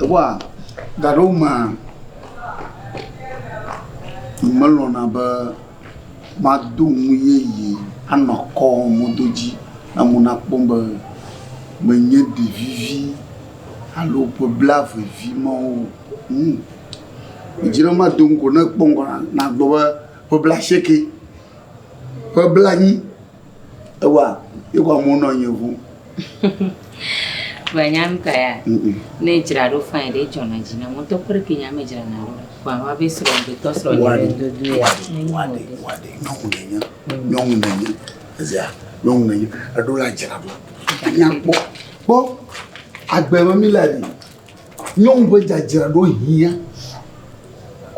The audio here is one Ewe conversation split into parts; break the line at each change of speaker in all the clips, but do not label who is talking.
Ewa gaɖewo mea, melɔ̃na be mado nu yeye anɔ kɔ mɔdo dzi ne amewo nakpɔ be menye ɖevivi alo ƒe blaevevi ma wo o. Medzi be mado nu ko ne ekpɔ ŋgɔ nagblɔ be ƒe blaasieke, ƒe blanyi. Ewa ewa mo nɔ anyi ŋu. Vɔ
nya ŋutɔ ya. Ne dzra ɖo fain ɖe dzɔ na dzi na mɔtɔ kɔ ɖe ke nya me dzra na ɖo. Vɔ awa be srɔ be tɔ srɔ ɖe be dodo ya. Wa de wa de wa de
nyɔnu ne nye nyɔnu ne nye ezia nyɔnu ne nye eɖo la dzra ɖo. Anya kpɔ kpɔ agbe me mi la di nyɔnu be dzadzra ɖo hia.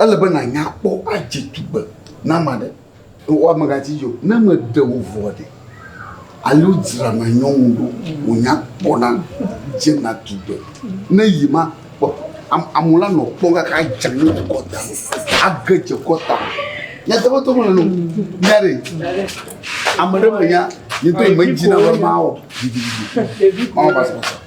Ele be na nya kpɔ adze tugbe na ma ɖe. Wò amegatsi dzo. Ne me ɖe wò vɔa ɖe? Alo dzra na nyɔnu ɖo wò nya kpɔ na dze na tugbe. Ne yi ma kpɔ amu la nɔ kpɔ kaka dze ne wò kɔta. Age dze kɔta. Nya tɔgbe tɔgbe le nɔ. Nya ɖe. Ame ɖe me nya. Yi to me dzi na wɔ ma wɔ. Ɖevi. Ɔn basa basa.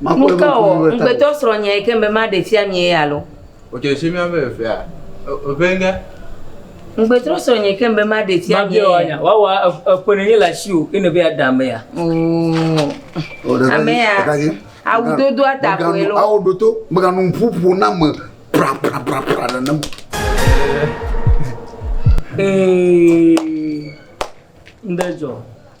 Nu ka wɔ
ŋugbetɔsrɔ̃ nyae ke be maɖee fia mie ye alo?
Ŋugbetɔsrɔ̃
nyae ke be maɖee fia mie ye? Wawa
eƒe nenye le asiwò eye nèbe yeaɖe amea. Oo.
Amea awu dodoa ta koe loo. Ao ɖo to, mègano
ŋuƒo ƒo na ame prapraprapra nenem o. Ee,
ŋɖe dzɔ.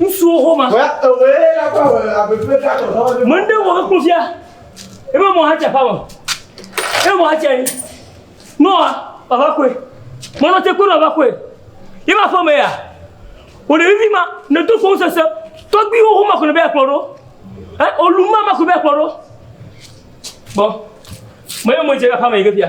Ŋutsuwo home.
Mɛ ɖe wɔ ekpɔ fia.
Ebe mɔ ha tsa fáwɔ. Ebe mɔ ha tsa yi. Nɔ baba koe. Mɔ nɔ tse koe nɔ baba koe. Ye ma fɔ mɛ ya. Wòle vivi ma. Ne do fɔn sese. Tɔgbi wo home kò ne bɛ akplɔ ɖo. Ɛ olu ma ma kò bɛ akplɔ ɖo. Bɔ. Mɛ yɛ mɔ tse ka fáwɔ yi ke fia.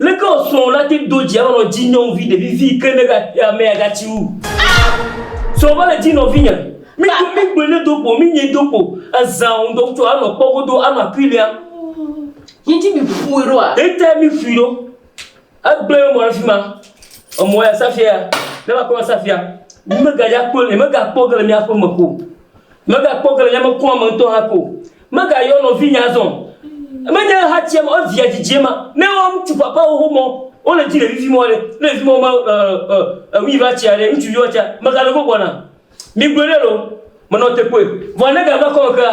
Leke wò srɔ̃wò nate ŋu do dzi alo nɔ dzi nyɔnuvi ɖevi vi ke ne amea gatsi wu? Srɔ̃ va le dzi nɔvinye. Mi do mi gblɔe ne do kpo mi nye do kpo ezã o ŋdɔ tso anɔ kpɔ godo anɔ akui lia. Yi
dzi mi ƒui ɖo a? Yi ta mi ƒui ɖo.
Egblẽ emɔ ɖe fima. Emɔ ya safia ya ne va kpɔ safia. Mi me ga ya kpɔ ne me ga kpɔ ge le mi aƒe me ko. Megakpɔ ge le nyamekua me ŋutɔ hã ko o. Megayɔ nɔvinye azɔ o. Menye ehatsia ma, evia dzidzie ma. Ne wo ŋutsu papawo ho mɔ, wole dzi ɖevivi mɔ ɖe, ne ɖevivi mɔ me ɔ, ɔ, ewui va tsia ɖe, ŋutsuvi va tsia, megale gbɔ gbɔna? Migblɔe ɖe loo. Menɔ te kpɔe. Vɔa ne gava kɔme kea,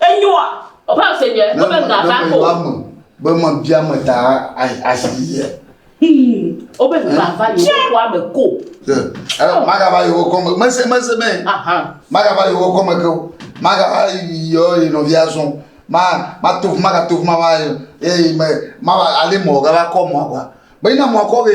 Enyoa? Ɔƒe ase nye ebe ŋa va ko. Ne ame be mebia
ame ta asi ye. Wobe ŋa va
yewo kɔa me ko. Magava
yewo kɔ me. Mese mese me. Magava
yewo kɔ me
ke o. Magava yɔ ye nɔvia zɔn. Ma ma to ma ka to ma ma ye ma ale mɔ gava kɔ mɔ gua. Bɛyi na mɔ kɔ ke.